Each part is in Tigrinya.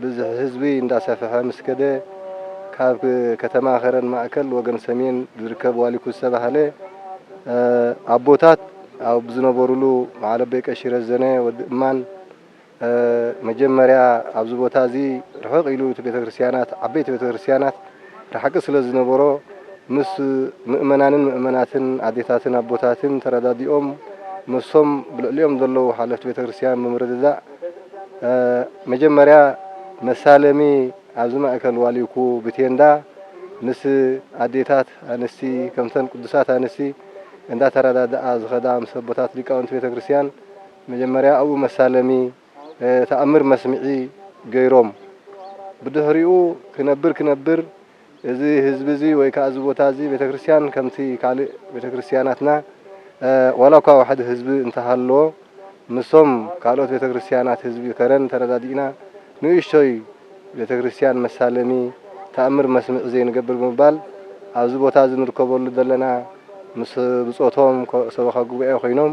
ብዝሒ ህዝቢ እንዳሰፈሐ ምስ ከደ ካብ ከተማ ከረን ማእከል ወገን ሰሜን ዝርከብ ዋሊኩ ዝተባህለ ኣቦታት ኣብ ዝነበሩሉ በዓል ኣቦይ ቀሺ ረዘነ ወዲ እማን መጀመርያ ኣብዚ ቦታ እዚ ርሕቕ ኢሉ እቲ ቤተክርስትያናት ዓበይቲ ቤተክርስትያናት ርሓቂ ስለ ዝነበሮ ምስ ምእመናንን ምእመናትን ኣዴታትን ኣቦታትን ተረዳዲኦም ምስም ብልዕሊኦም ዘለዉ ሓለፍቲ ቤተ ክርስትያን ብምርድዳእ መጀመርያ መሳለሚ ኣብዚ ማእከል ዋሊኩ ብቴንዳ ምስ ኣዴታት ኣንስቲ ከምተን ቅዱሳት ኣንስቲ እንዳተረዳድኣ ዝኸዳ ምስ ኣቦታት ሊቃውንቲ ቤተ ክርስትያን መጀመርያ ኣብኡ መሳለሚ ተኣምር መስምዒ ገይሮም። ብድሕሪኡ ክነብር ክነብር እዚ ህዝቢ እዚ ወይ ከኣ እዚ ቦታ እዚ ቤተ ክርስቲያን ከምቲ ካልእ ቤተ ክርስቲያናትና ዋላ እኳ ዋሕዲ ህዝቢ እንተሃለዎ ምስቶም ካልኦት ቤተ ክርስቲያናት ህዝቢ ከረን ተረዳዲእና ንእሽቶይ ቤተ ክርስቲያን መሳለሚ ተኣምር መስምዒ ዘይንገብር ብምባል ኣብዚ ቦታ እዚ ንርከበሉ ዘለና ምስ ብጾቶም ሰበኻ ጉባኤ ኮይኖም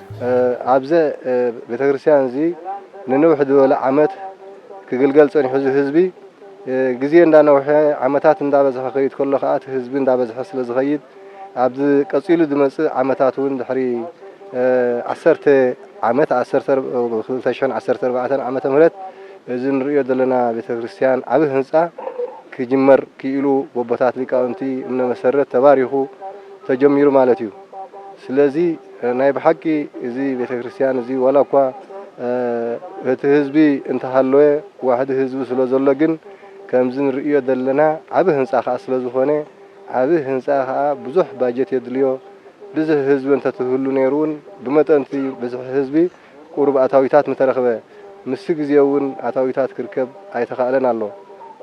ኣብዘ ቤተክርስትያን እዚ ንንውሕ ዝበለ ዓመት ክግልገል ጸኒሑ እዚ ህዝቢ ግዜ እንዳነውሐ ዓመታት እንዳበዝሐ ክኸይድ ከሎ ከኣ እቲ ህዝቢ እንዳበዝሐ ስለ ዝኸይድ ኣብዚ ቀጺሉ ዝመጽእ ዓመታት ውን ድሕሪ ዓሰርተ ዓመት ዓሰርተ ክልተ ሽሕን ዓሰርተ ኣርባዕተን ዓመተ ምህረት እዚ ንርእዮ ዘለና ቤተክርስትያን ዓቢ ህንጻ ክጅመር ክኢሉ በቦታት ሊቃውንቲ እምነ መሰረት ተባሪኹ ተጀሚሩ ማለት እዩ ስለዚ ናይ ብሓቂ እዚ ቤተክርስትያን እዚ ዋላ እኳ እቲ ህዝቢ እንተሃለወ ዋሕዲ ህዝቢ ስለዘሎ ግን ከምዚ ንርእዮ ዘለና ዓቢ ህንጻ ከኣ ስለዝኾነ ዓቢ ህንጻ ከኣ ብዙሕ ባጀት የድልዮ ብዝሒ ህዝቢ እንተትህሉ ነይሩ ውን ብመጠን'ቲ ብዝሒ ህዝቢ ቁሩብ ኣታዊታት ምተረኽበ ምስቲ ግዜ ውን ኣታዊታት ክርከብ ኣይተኻእለን ኣሎ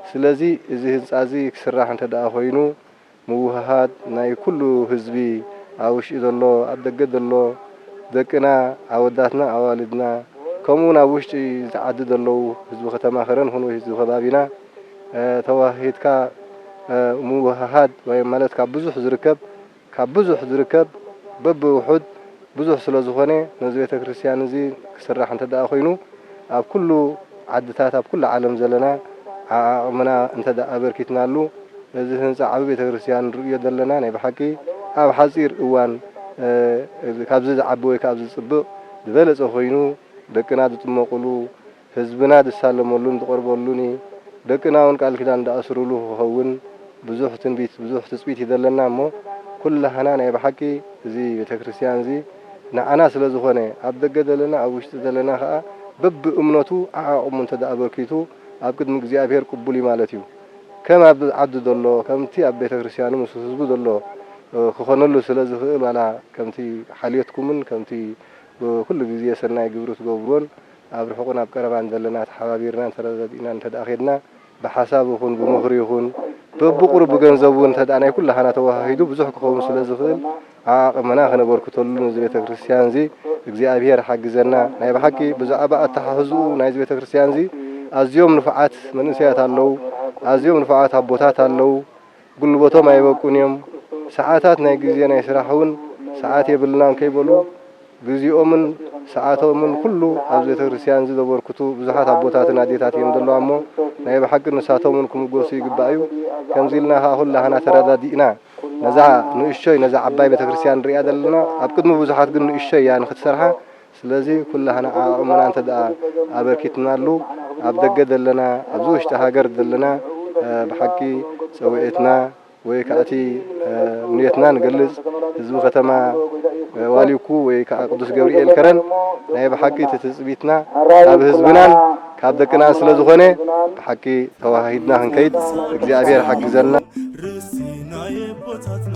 ስለዚ እዚ ህንጻ እዚ ክስራሕ እንተደኣ ኮይኑ ምውህሃድ ናይ ኩሉ ህዝቢ ኣብ ውሽጢ ዘሎ ኣብ ደገ ዘሎ ደቅና ኣወዳትና ኣዋልድና ከምኡ ውን ኣብ ውሽጢ እቲ ዓዲ ዘለዉ ህዝቢ ከተማ ከረን ይኹን ወይ ህዝቢ ከባቢና ተወሃሂድካ ምውህሃድ ማለት ካብ ብዙሕ ዝርከብ ካብ ብዙሕ ዝርከብ በብውሑድ ብዙሕ ስለ ዝኾነ ነዚ ቤተ ክርስቲያን እዚ ክስራሕ እንተ ደኣ ኮይኑ ኣብ ኩሉ ዓድታት ኣብ ኩሉ ዓለም ዘለና ዓዓቕምና እንተ ደኣ ኣበርኪትናሉ እዚ ህንጻ ዓቢ ቤተ ክርስቲያን ንርእዮ ዘለና ናይ ብሓቂ ኣብ ሓጺር እዋን ካብዚ ዝዓቢ ወይ ከኣ ኣብዚ ዝጽብቕ ዝበለጸ ኮይኑ ደቅና ዝጥመቑሉ ህዝብና ዝሳለመሉን ዝቐርበሉን እዪ። ደቅና ውን ቃል ኪዳን ዝኣስሩሉ ክኸውን ብዙሕ ትንቢት ብዙሕ ትጽቢት እዪ ዘለና እሞ ኩላህና ናይ ብሓቂ እዚ ቤተክርስትያን እዚ ንዓና ስለ ዝኾነ ኣብ ደገ ዘለና ኣብ ውሽጢ ዘለና ከኣ በቢ እምነቱ ዓዓቕሙ እንተ ኣበርኪቱ ኣብ ቅድሚ እግዚኣብሔር ቅቡል እዪ ማለት እዩ። ከም ኣብ ዓዱ ዘሎ ከምቲ ኣብ ቤተክርስትያኑ ምስ ህዝቡ ዘሎ ክኾነሉ ስለ ዝኽእል ዋላ ከምቲ ሓልዮትኩምን ከምቲ ኩሉ ግዜ ሰናይ ግብሪ ትገብሩዎን ኣብ ርሑቕን ኣብ ቀረባን ዘለና ተሓባቢርናን ተረዳዲእናን እንተድኣ ኬድና ብሓሳብ ይኹን ብምኽሪ ይኹን በብቑሩብ ብገንዘብ እውን እንተድኣ ናይ ኩላህና ተወሃሂዱ ብዙሕ ክኸውን ስለ ዝኽእል ዓዓቕምና ከነበርክተሉ ንዚ ቤተ ክርስቲያንዚ እግዚኣብሔር ሓግዘና ናይ ብሓቂ ብዛዕባ ኣተሓሕዝኡ ናይዚ ቤተ ክርስቲያንዚ ኣዝዮም ንፉዓት መንእሰያት ኣለዉ ኣዝዮም ንፉዓት ኣቦታት ኣለዉ ጉልበቶም ኣይበቁን እዮም፣ ሰዓታት ናይ ግዜ ናይ ስራሕ ውን ሰዓት የብልናን ከይበሉ ግዚኦምን ሰዓቶምን ኩሉ ኣብዚ ቤተክርስትያን እዚ ዘበርክቱ ብዙሓት ኣቦታትን ኣዴታት እዮም ዘለዋ እሞ ናይ ብሓቂ ንሳቶም ውን ክምጎሱ ይግባእ እዩ ከምዚ ኢልና ከኣ ኩላህና ተረዳዲእና ነዛ ንእሽቶይ ነዛ ዓባይ ቤተክርስትያን ንርእያ ዘለና ኣብ ቅድሚ ብዙሓት ግን ንእሽቶይ እያ ንክትሰርሓ ስለዚ ኩላህና ዓኣእሙና እንተድኣ ኣበርኪትናሉ ኣብ ደገ ዘለና ኣብዚ ውሽጢ ሃገር ዘለና ብሓቂ ጸዊዒትና ወይ ክኣ እቲ ንየትና ንገልጽ ህዝቢ ከተማ ዋሊኩ ወይ ክኣ ቅዱስ ገብሪኤል ከረን ናይ ብሓቂ እቲ ትጽቢትና ካብ ህዝብናን ካብ ደቅናን ስለ ዝኾነ ብሓቂ ተዋሃሂድና ክንከይድ እግዚኣብሄር ሓግዘና። ርስቲ ናይ ኣቦታትና።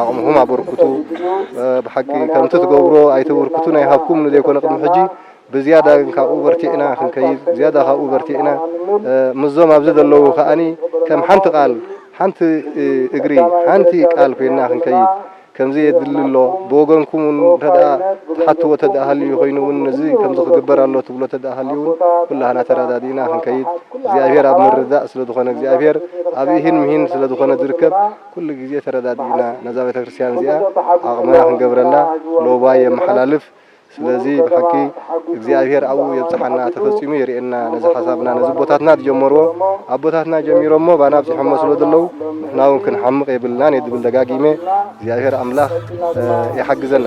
ዓቕምኹም ኣበርክቱ ብሓቂ ከምቲ ትገብሮ ኣይተበርክቱን ኣይሃብኩምን ዘይኮነ ቅድሚ ሕጂ ብዝያዳ ግን ካብኡ በርቲዕና ክንከይድ ዝያዳ ካብኡ በርቲዕና ምስዞም ኣብዚ ዘለዉ ከኣኒ ከም ሓንቲ ቃል ሓንቲ እግሪ ሓንቲ ቃል ኮይንና ክንከይድ ከምዚ የድሊ ኣሎ ብወገንኩም ውን እንተድኣ ትሓትዎ ተድኣ ሃልዩ ኮይኑ ውን እዚ ከምዚ ክግበር ኣሎ ትብሎ ተድኣ ሃልዩ ውን ኩላህና ተረዳዲእና ክንከይድ እግዚኣብሄር ኣብ ምርድዳእ ስለ ዝኾነ እግዚኣብሄር ኣብ ኢሂን ምሂን ስለ ዝኾነ ዝርከብ ኩሉ ግዜ ተረዳዲእና ነዛ ቤተክርስትያን እዚኣ ዓቅምና ክንገብረላ ሎባይ የመሓላልፍ ስለዚ ብሓቂ እግዚኣብሔር ኣብኡ የብጽሓና ተፈጺሙ የርእየና ነዚ ሓሳብና ነዚ ኣቦታትና ዝጀመርዎ ኣቦታትና ጀሚሮሞ ባና ኣብጺሖሞ ስለ ዘለዉ ንሕና ውን ክንሓምቅ የብልናን እየ ዝብል ደጋጊመ እግዚኣብሔር ኣምላክ ይሓግዘና።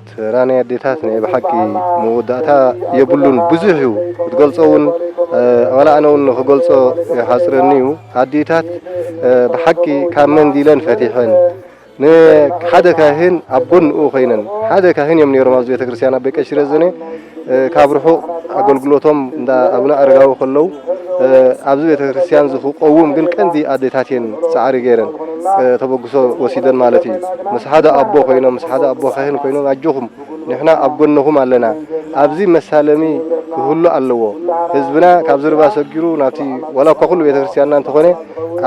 ስራ ናይ ኣዴታት ናይ ብሓቂ መወዳእታ የብሉን ብዙሕ እዩ ክትገልጾ ውን ዋላ ኣነ ውን ንክገልጾ ይሓጽረኒ እዩ ኣዴታት ብሓቂ ካብ መንዲለን ፈቲሐን ንሓደ ካህን ኣብ ጎንኡ ኮይነን ሓደ ካህን እዮም ኔሮም ኣብዚ ቤተክርስትያን ኣቦይ ቀሺ ረዘነ ካብ ርሑቕ ኣገልግሎቶም እንዳ ኣቡነ ኣረጋዊ ከለዉ ኣብዚ ቤተክርስትያን እዚ ክቆውም ግን ቀንዲ ኣዴታት እየን ጻዕሪ ገይረን ተበግሶ ወሲደን ማለት እዩ ምስ ሓደ ኣቦ ኮይኖም ምስ ሓደ ኣቦ ካህን ኮይኖም ኣጆኹም ንሕና ኣብ ጎነኹም ኣለና ኣብዚ መሳለሚ ክህሉ ኣለዎ ህዝብና ካብዚ ርባ ሰጊሩ ናብቲ ዋላ እኳ ኩሉ ቤተክርስትያንና እንተኾነ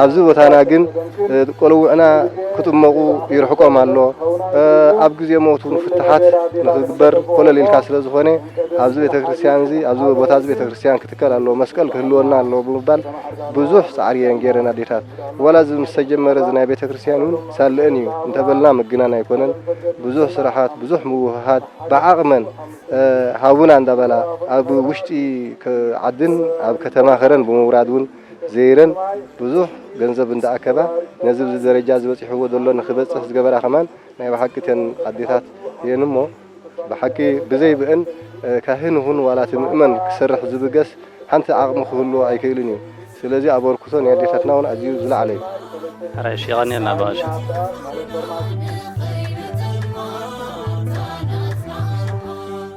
ኣብዚ ቦታና ግን ቆልውዕና ክጥመቑ ይርሕቆም ኣሎ። ኣብ ግዜ ሞት እውን ፍታሓት ንኽግበር ኮለል ኢልካ ስለ ዝኾነ ኣብዚ ቤተክርስትያን እዚ ኣብዚ ቦታ እዚ ቤተክርስትያን ክትከል ኣለዎ መስቀል ክህልወና ኣለዎ ብምባል ብዙሕ ጻዕሪ እየን ገይረን ኣዴታት። ዋላ እዚ ምስ ተጀመረ እዚ ናይ ቤተክርስትያን እውን ሳለእን እዩ እንተበልና ምግናን ኣይኮነን። ብዙሕ ስራሓት ብዙሕ ምውህሃድ ብዓቕመን ሃቡና እንዳበላ ኣብ ውሽጢ ዓድን ኣብ ከተማ ከረን ብምውራድ እውን ዘይረን ብዙሕ ገንዘብ እንዳኣከባ ነዚ ብዚ ደረጃ እዚ በጺሕዎ ዘሎ ንክበጽሕ ዝገበራ ከማን ናይ ብሓቂ እተን ኣዴታት እየን እሞ ብሓቂ ብዘይ ብእን ካህን ይኹን ዋላ እቲ ምእመን ክሰርሕ ዝብገስ ሓንቲ ዓቕሚ ክህልዎ ኣይክእልን እዩ ስለዚ ኣበርክቶ ናይ ኣዴታትና ውን ኣዝዩ ዝለዓለ እዩ። ሕራይሽ የቀንየልና ባባሸ።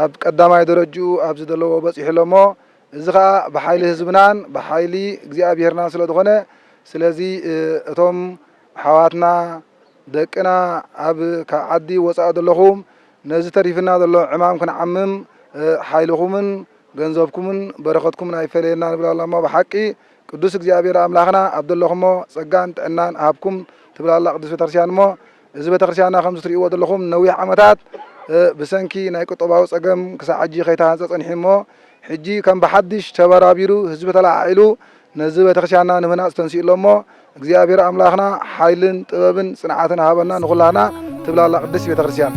ኣብ ቀዳማይ ደረጅኡ ኣብዚ ደለዎ በጺሑ ኣሎ እሞ እዚ ከኣ ብሓይሊ ህዝብናን ብሓይሊ እግዚኣብሔርናን ስለ ዝኾነ ስለዚ እቶም ኣሕዋትና ደቅና ኣብ ካብ ዓዲ ወጻኢ ደለኹም ነዚ ተሪፍና ዘሎ ዕማም ክንዓምም ሓይልኹምን ገንዘብኩምን በረኸትኩምን ኣይፈለየና ንብል ኣላ እሞ ብሓቂ ቅዱስ እግዚኣብሔር ኣምላኽና ኣብ ደለኹሞ ጸጋን ጥዕናን እሃብኩም ትብል ኣላ ቅድስት ቤተክርስቲያን እሞ እዚ ቤተክርስቲያንና ከምዚ ትርእይዎ ዘለኹም ንነዊሕ ዓመታት ብሰንኪ ናይ ቁጠባዊ ጸገም ክሳዕ ሕጂ ከይተሃንጸ ጸኒሑ እሞ ሕጂ ከም ብሓድሽ ተበራቢሩ ህዝቢ ተለዓዒሉ ነዚ ቤተክርስቲያንና ንምህናጽ ተንሲኡ ኣሎ እሞ እግዚኣብሔር ኣምላኽና ሓይልን ጥበብን ጽንዓትን ሃበና ንኹላህና ትብላላ ቅድስት ቤተክርስቲያን።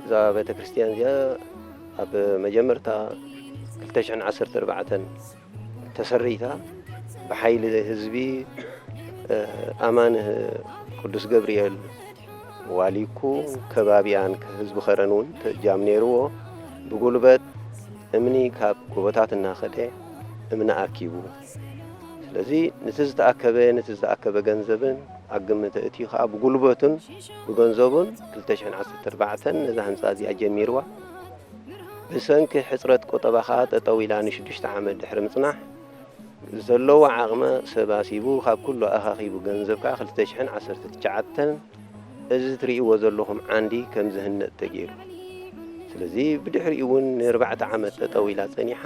እዛ ቤተ ክርስቲያን እዚኣ ኣብ መጀመርታ ክልተ ሽሕን ዓሰርተ ኣርባዕተን ተሰሪታ ብሓይሊ ህዝቢ እ፣ ኣማን እ፣ ቅዱስ ገብርኤል ዋሊኩ ከባቢኣን ህዝቢ ከረን እውን ተጃም ነይርዎ ብጉልበት እምኒ ካብ ጎቦታት እናኸደ እምኒ ኣኪቡ ስለዚ ንቲ ዝተኣከበ ንቲ ዝተኣከበ ገንዘብን ኣብ ግምት ኣእትዩ ከኣ ብጉልበቱን ብገንዘቡን ክልተ ሽሕን ዓሰርተ ኣርባዕተን ነዛ ህንጻ እዚኣ ጀሚርዋ ብሰንኪ ሕጽረት ቁጠባ ከኣ ጠጠው ኢላ ንሽዱሽተ ዓመት ድሕሪ ምጽናሕ ዘለዎ ዓቕመ ሰብ ኣሲቡ ካብ ኩሉ ኣኻኺቡ ገንዘብ ከኣ ክልተ ሽሕን ዓሰርተ ትሽዓተን እዚ ትርእይዎ ዘለኹም ዓንዲ ከም ዝህነጽ ተገይሩ። ስለዚ ብድሕሪኡ እውን ንኣርባዕተ ዓመት ጠጠው ኢላ ጸኒሓ።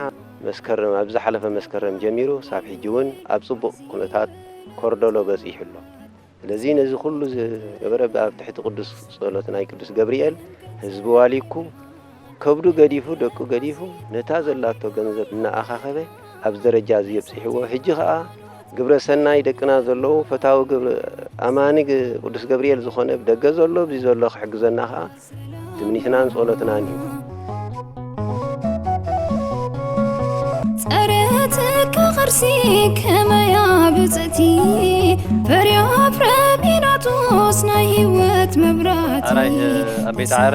መስከረም ኣብ ዝሓለፈ መስከረም ጀሚሩ ክሳብ ሕጂ እውን ኣብ ጽቡቕ ኩነታት ኮርደሎ በጺሑ ኣሎ። ስለዚ ነዚ ኩሉ ዝገበረ ብኣብ ትሕቲ ቅዱስ ጸሎት ናይ ቅዱስ ገብርኤል ህዝቢ ዋሊኩ ከብዱ ገዲፉ ደቁ ገዲፉ ነታ ዘላቶ ገንዘብ እናኣኻኸበ ኣብዚ ደረጃ እዚ የብጺሕዎ ሕጂ ከኣ ግብረ ሰናይ ደቅና ዘለዉ ፈታዊ ግብሪ ኣማኒ ቅዱስ ገብርኤል ዝኾነ ብደገ ዘሎ ኣብዚ ዘሎ ክሕግዘና ከኣ ትምኒትናን ጸሎትናን እዩ ጸረትካ ቅርሲ ከመያ ብጽእቲ ፍሬያ ፍረ ጲላጦስ ናይ ህይወት መብራት ኣራይ ኣብ ቤት ዓረ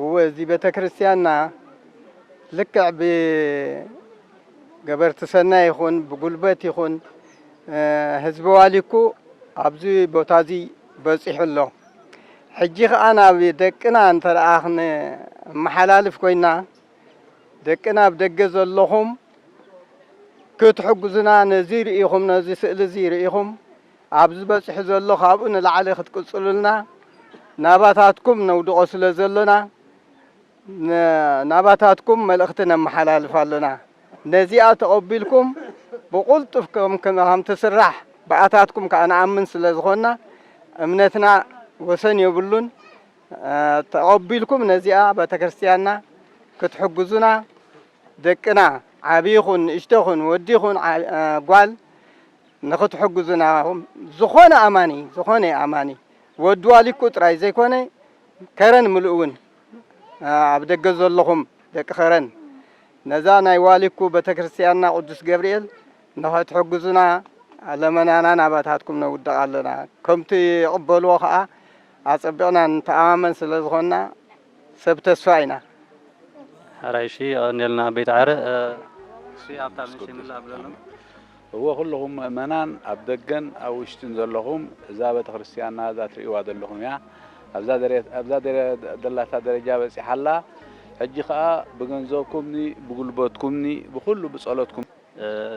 እወ እዚ ቤተክርስትያንና ልክዕ ብገበርቲ ሰናይ ይኹን ብጉልበት ይኹን ህዝቢ ዋሊኩ ኣብዚ ቦታ እዚ በፂሑ ኣሎ። ሕጂ ከዓ ናብ ደቅና እንተደኣ ክንመሓላልፍ ኮይና ደቅና ኣብ ደገ ዘለኹም ክትሕግዙና ነዚ ርኢኹም ነዚ ስእሊ እዚ ርኢኹም ኣብዚ በጺሑ ዘሎ ካብኡ ንላዕሊ ክትቅጽሉልና ናባታትኩም ነውድቖ ስለ ዘሎና ን ናባታትኩም መልእኽቲ ነመሓላልፍ ኣሎና። ነዚኣ ተቐቢልኩም ብቕልጡፍ ከም ከም ትስራሕ ብኣታትኩም ከኣ ንኣምን ስለ ዝኾንና እምነትና ወሰን የብሉን ተቐቢልኩም ነዚኣ ቤተክርስትያንና ክትሕግዙና ደቅና ዓቢ ይኹን ንእሽቶ ይኹን ወዲ ይኹን ጓል ንኽትሕግዙና ኢኹም ዝኾነ ኣማኒ ዝኾነ ኣማኒ ወዲ ዋሊኩ ጥራይ ዘይኮነ ከረን ምሉእ እውን ኣብ ደገ ዘለኹም ደቂ ከረን ነዛ ናይ ዋሊኩ ቤተክርስትያንና ቅዱስ ገብርኤል ንኽትሕግዙና ለመናና ናባታትኩም ነውድቕ ኣለና ከምቲ ይቕበልዎ ከዓ ኣጸቢቕና ንተኣማመን ስለ ዝኾንና ሰብ ተስፋ ኢና። ሐራይ እሺ የቐንየልና ኣቤት ዓረ እሺ ኣብታ ምንሽይ ምላእ ብለሎም። እወ ኩሉኹም ምእመናን ኣብ ደገን ኣብ ውሽጥን ዘለኹም እዛ ቤተክርስትያንና እዛ ትርእይዋ ዘለኹም እያ ኣብዛ ዘላታ ደረጃ በጺሓ ኣላ ሕጂ ከኣ ብገንዘብኩምኒ ብጉልበትኩምኒ ብኹሉ ብጸሎትኩም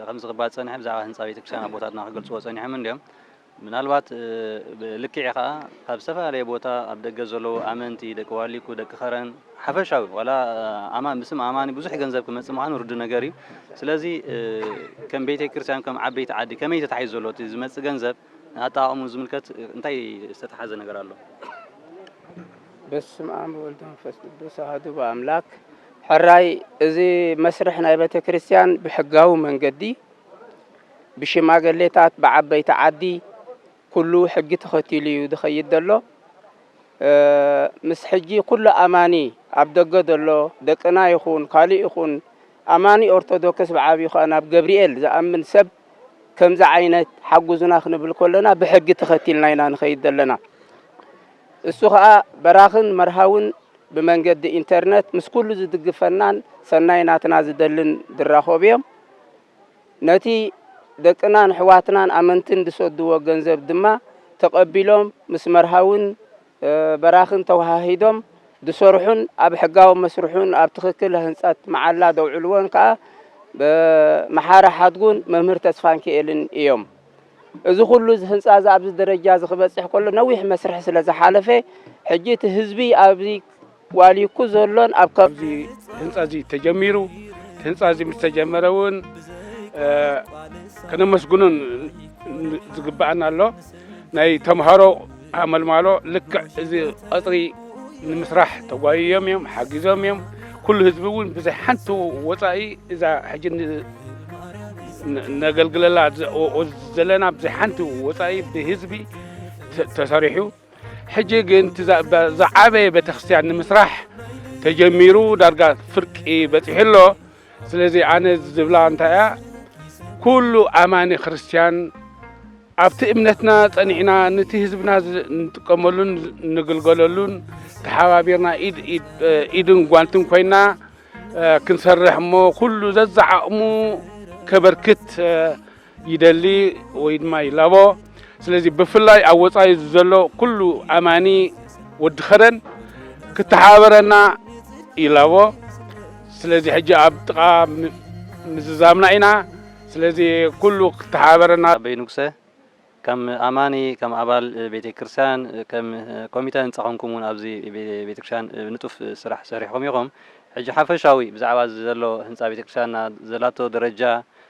ከምዚ ክባል ጸኒሑ ብዛዕባ ህንጻ ቤተክርስትያን ኣቦታትና ክገልጽዎ ጸኒሖም እንድዮም ምናልባት ብልክዒ ከኣ ካብ ዝተፈላለየ ቦታ ኣብ ደገ ዘለዉ ኣመንቲ፣ ደቂ ዋሊኩ፣ ደቂ ከረን፣ ሓፈሻዊ ዋላ ኣማን ብስም ኣማኒ ብዙሕ ገንዘብ ክመጽእ ምዃኑ ርዱእ ነገር እዩ። ስለዚ ከም ቤቴክርስትያን ከም ዓበይቲ ዓዲ ከመይ ተታሒዙ ዘሎ እቲ ዝመጽእ ገንዘብ ንኣጠቓቕምኡ ዝምልከት እንታይ ዝተታሓዘ ነገር ኣሎ? በስምኣም ወልድ መንፈስ ቅዱስ ኣሃዱ ኣምላክ ሕራይ እዚ መስርሕ ናይ ቤተክርስትያን ብሕጋዊ መንገዲ ብሽማገሌታት ብዓበይቲ ዓዲ ኩሉ ሕጊ ተኸቲሉ እዩ ዝኸይድ ዘሎ ምስ ሕጂ ኩሉ ኣማኒ ኣብ ደገ ዘሎ ደቅና ይኹን ካልእ ይኹን ኣማኒ ኦርቶዶክስ ብዓብዩ ከኣ ናብ ገብርኤል ዝኣምን ሰብ ከምዚ ዓይነት ሓጉዙና ክንብል ከለና ብሕጊ ተኸቲልና ኢና ንኸይድ ዘለና እሱ ከኣ በራኽን መርሃውን ብመንገዲ ኢንተርነት ምስ ኩሉ ዝድግፈናን ሰናይ ናትና ዝደልን ዝራኸቡ እዮም ነቲ ደቅናን ኣሕዋትናን ኣመንትን ዝሰድዎ ገንዘብ ድማ ተቐቢሎም ምስ መርሃውን በራኽን ተወሃሂዶም ዝሰርሑን ኣብ ሕጋዊ መስርሑን ኣብ ትኽክል ህንፀት መዓላ ዘውዕልዎን ከዓ መሓሪ ሓድጉን መምህር ተስፋንኪኤልን እዮም። እዚ ኩሉ እዚ ህንፃ እዚ ኣብዚ ደረጃ እዚ ክበፅሕ ከሎ ነዊሕ መስርሕ ስለ ዝሓለፈ ሕጂ እቲ ህዝቢ ኣብዚ ዋሊኩ ዘሎን ኣብ ኣብዚ ህንፃ እዚ ተጀሚሩ እቲ ህንፃ እዚ ምስ ተጀመረ እውን ከነመስግኑን ዝግባኣና ኣሎ ናይ ተምሃሮ ኣመልማሎ ልክዕ እዚ ቐፅሪ ንምስራሕ ተጓይዮም እዮም ሓጊዞም እዮም ኩሉ ህዝቢ እውን ብዘይ ሓንቲ ወፃኢ እዛ ሕጂ ነገልግለላ ዘለና ብዘይ ሓንቲ ወፃኢ ብህዝቢ ተሰሪሑ ሕጂ ግን እቲ ዝዓበየ ቤተክርስትያን ንምስራሕ ተጀሚሩ ዳርጋ ፍርቂ በጺሑ ኣሎ። ስለዚ ኣነ ዝብላ እንታይ እያ ኩሉ ኣማኒ ክርስትያን ኣብቲ እምነትና ጸኒዕና ነቲ ህዝብና ንጥቀመሉን ንግልገለሉን ተሓባቢርና ኢድን ጓንትን ኮይና ክንሰርሕ እሞ ኩሉ ዘዛዓቕሙ ከበርክት ይደሊ ወይ ድማ ይላቦ ስለዚ ብፍላይ ኣብ ወፃኢ ዘሎ ኩሉ ኣማኒ ወዲ ኸረን ክተሓባበረና ይላቦ ስለዚ ሕጂ ኣብ ጥቃ ምዝዛምና ኢና ስለዚ ኩሉ ክተሓባበረና ኣበይ ንጉሰ ከም ኣማኒ ከም ኣባል ቤተ ክርስቲያን ከም ኮሚተ ህንፃ ኮንኩም እውን ኣብዚ ቤተ ክርስቲያን ንጡፍ ስራሕ ሰሪሕኹም ኢኹም ሕጂ ሓፈሻዊ ብዛዕባ እዚ ዘሎ ህንፃ ቤተ ክርስቲያንና ዘላቶ ደረጃ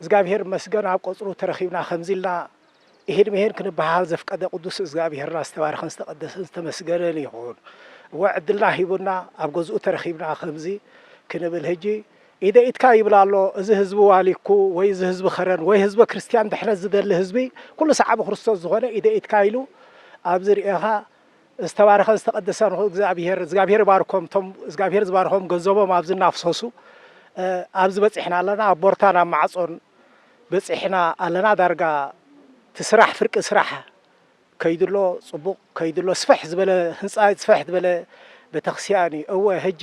እዝጋብሄር ይመስገን ኣብ ቀጽሩ ተረኺብና ከምዚ ኢልና ኢሂን ምሂን ክንበሃሃል ዘፍቀደ ቅዱስ እዝጋብሄርና ዝተባረኸን ዝተቀደሰን ዝተመስገነን ይኹን። እወ ዕድልና ሂቡና ኣብ ገዝኡ ተረኺብና ከምዚ ክንብል ህጂ ኢደይ ኢድካ ይብል ኣሎ እዚ ህዝቢ ዋሊኩ ወይ እዚ ህዝቢ ከረን ወይ ህዝበ ክርስትያን ድሕነት ዝደሊ ህዝቢ ኩሉ ሰዓቢ ክርስቶስ ዝኾነ ኢደይ ኢድካ ኢሉ ኣብዚ ርኤኻ ዝተባረኸን ዝተቀደሰን ይኹን እግዝኣብሄር እዝጋብሄር ይባርኮም እቶም እዝጋብሄር ዝባርኾም ገንዘቦም ኣብዚ እናፍሰሱ ኣብዚ በጺሕና ኣለና ኣብ ቦርታን ኣብ ማዕጾን በጺሕና ኣለና ዳርጋ እቲ ስራሕ ፍርቂ ስራሕ ከይዱ ኣሎ ጽቡቅ ከይዱ ኣሎ ስፍሕ ዝበለ ህንጻ ስፍሕ ዝበለ ቤተክስያን እዩ እወ ህጂ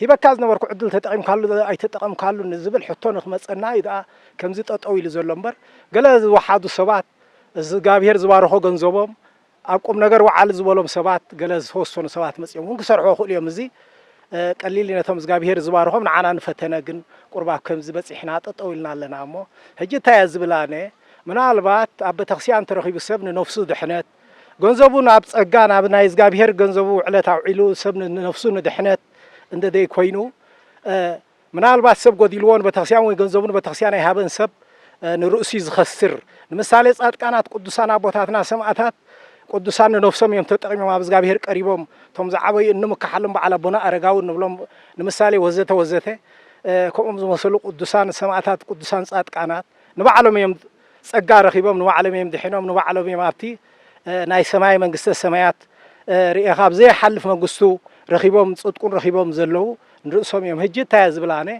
ሂበካ ዝነበርኩ ዕድል ተጠቒምካሉ ዶ ኣይተጠቐምካሉን ንዝብል ሕቶ ንክመጸና እዩ ደኣ ከምዚ ጠጠው ኢሉ ዘሎ እምበር ገለ ዝወሓዱ ሰባት እዝጋብሄር ዝባረኾ ገንዘቦም ኣብ ቁምነገር ወዓል ዝበሎም ሰባት ገለ ዝተወሰኑ ሰባት መጺኦም እውን ክሰርሕዎ ይኽእሉ እዮም እዚ ቀሊል እዩ ነቶም እዝጋብሄር ዝባረኾም ንዓና ንፈተነ ግን ቁሩብ ኣብ ከምዚ በጺሕና ጠጠው ኢልና ኣለና እሞ ሕጂ እንታይ እየ ዝብል ኣነ ምናልባት ኣብ ቤተክርስቲያን ተረኺቡ ሰብ ንነፍሱ ድሕነት ገንዘቡ ናብ ጸጋ ናብ ናይ እዝጋብሄር ገንዘቡ ውዕለት ኣውዒሉ ሰብ ንነፍሱ ንድሕነት እንደደይ ኮይኑ ምናልባት ሰብ ጎዲልዎ ንቤተክርስቲያን ወይ ገንዘቡ ንቤተክርስቲያን ኣይሃበን ሰብ ንርእሱ ዝኸስር ንምሳሌ ጻድቃናት ቅዱሳን ኣቦታትና ሰማእታት ቅዱሳን ንነፍሶም እዮም ተጠቂሞም ኣብ እዝጋብሄር ቀሪቦም እቶም ዝዓበዩ እንምካሓሎም በዓል ኣቦና ኣረጋዊ ንብሎም ንምሳሌ ወዘተ ወዘተ ከምኦም ዝመሰሉ ቅዱሳን ሰማእታት ቅዱሳን ጻድቃናት ንባዕሎም እዮም ጸጋ ረኺቦም ንባዕሎም እዮም ድሒኖም ንባዕሎም እዮም ኣብቲ ናይ ሰማይ መንግስተ ሰማያት ርኤኻ ኣብ ዘይሓልፍ መግስቱ ረኺቦም ጽድቁን ረኺቦም ዘለዉ ንርእሶም እዮም ህጂ እንታይ እየ ዝብል ኣነ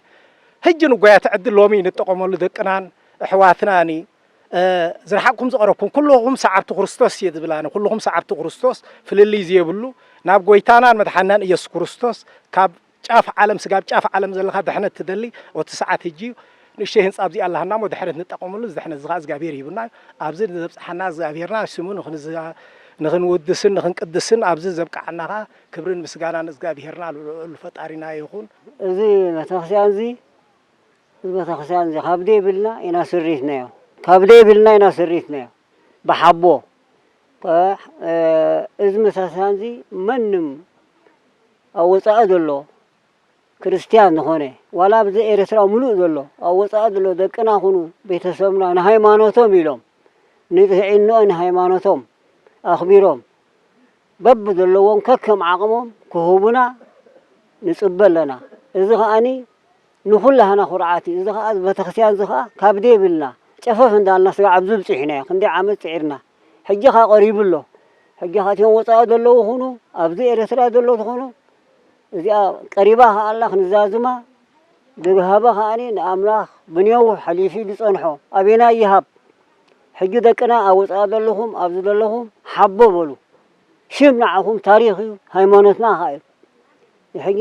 ህጂ ንጓያት ዕድል ሎሚ ንጠቐመሉ ደቅናን እሕዋትናን ዝረሓቅኩም ዝቐረብኩም ኩልኹም ሰዓብቲ ክርስቶስ እየ ዝብል ኣነ ኩልኹም ሰዓብቲ ክርስቶስ ፍልልይ ዘየብሉ ናብ ጎይታናን መድሓናን ኢየሱስ ክርስቶስ ካብ ጫፍ ዓለም ስጋብ ጫፍ ዓለም ዘለካ ድሕነት ትደሊ ኦቲ ሰዓት ህጂ እዩ ንእሽተይ ህንጻ ኣብዚኣ ኣለሃና እሞ ድሕነት ንጠቀመሉ እዚ ድሕነት እዚ ከኣ እዝጋብሄር ሂቡና እዩ ኣብዚ ዘብጽሓና እዝጋብሄርና ስሙ ንክንውድስን ንክንቅድስን ኣብዚ ዘብቅዓና ከኣ ክብርን ምስጋናን እዝጋብሄርና ልዑል ፈጣሪና ይኩን። እዚ ቤተክርስቲያን እዚ እዚ ቤተክርስቲያን እዚ ካብ ደይብልና ኢና ስሪትናዮ ካብ ደይብልና ኢና ስሪትናዮ ብሓቦ እዚ መሳስያን እዚ መንም ኣብ ወጻኢ ዘሎ ክርስትያን ዝኾነ ዋላ ኣብዚ ኤርትራ ምሉእ ዘሎ ኣብ ወጻኢ ዘሎ ደቅና ኹኑ ቤተሰብና ንሃይማኖቶም ኢሎም ንጥዕንኦ ንሃይማኖቶም ኣኽቢሮም በብ ዘለዎም ከከም ዓቕሞም ክህቡና ንጽበ ኣለና እዚ ኸኣኒ ንኹላህና ኩርዓት እዩ እዚ ኸኣ እዚ በተክስያን እዚ ኸኣ ካብ ደይብልና ጨፈፍ እንዳልና ስጋዕ ኣብዚ ብጺሕናዮ ክንደይ ዓመት ጺዒርና ሕጂ ኸኣ ቀሪቡ ኣሎ ሕጂ ኸኣ እቲኦም ወጻኢ ዘለዉ ይኹኑ ኣብዚ ኤረትራ ዘለዉ ትኹኑ እዚኣ ቀሪባ ኸኣ ኣላ ክንዛዝማ ድግሃበ ኸኣኒ ንኣምላኽ ብኔዉ ሐሊፊ ድጸንሖ ኣቤና ይሃብ ሕጂ ደቅና ኣብ ወጻኢ ዘለኹም ኣብዚ ዘለኹም ሐቦ በሉ ሽም ንዓኹም ታሪኽ እዩ ሃይማኖትና ኸኣ እዩ ሕጂ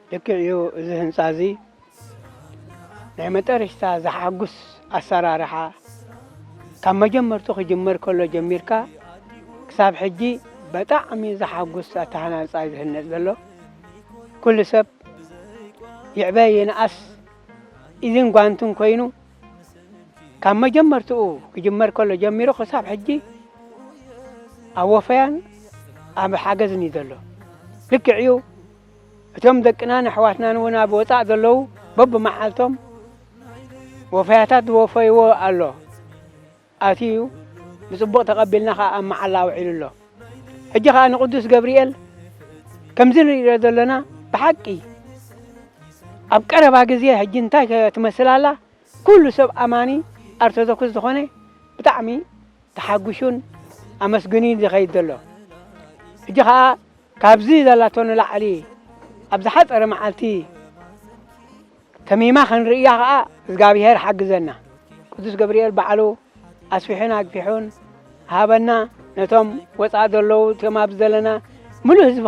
ልክዕ እዩ እዚ ህንጻ እዚ ናይ መጠርሽታ ዘሓጉስ ኣሰራርሓ ካብ መጀመርቱ ክጅመር ከሎ ጀሚርካ ክሳብ ሕጂ በጣዕሚ ዘሓጉስ ኣተሃናንጻ እዩ ዝህነጽ ዘሎ ኩሉ ሰብ ይዕበ ይንኣስ ኢድን ጓንትን ኮይኑ ካብ መጀመርትኡ ክጅመር ከሎ ጀሚሩ ክሳብ ሕጂ ኣብ ወፈያን ኣብ ሓገዝን እዩ ዘሎ ልክዕ እዩ እቶም ደቅናን ኣሕዋትናን እውን ኣብ ወፃእ ዘለዉ በብመዓልቶም ወፈያታት ዝወፈይዎ ኣሎ ኣትዩ ብፅቡቕ ተቐቢልና ከዓ ኣብ መዓላ ውዒሉ ኣሎ ሕጂ ከዓ ንቅዱስ ገብርኤል ከምዚ ንሪኦ ዘለና ብሓቂ ኣብ ቀረባ ግዜ ሕጂ እንታይ ትመስል ኣላ ኩሉ ሰብ ኣማኒ ኣርቶዶክስ ዝኾነ ብጣዕሚ ተሓጒሹን ኣመስግኑን ዝኸይድ ዘሎ ሕጂ ከዓ ካብዚ ዘላቶ ንላዕሊ ኣብ ዝሓጸረ መዓልቲ ተሚማ ክንርእያ ከኣ እዝጋቢሄር ሓግዘና ቅዱስ ገብርኤል ባዕሉ ኣስፊሑን ኣግፊሑን ሃበና ነቶም ወጻኢ ዘለዉ እቶም ኣብዚ ዘለና ምሉእ ህዝቢ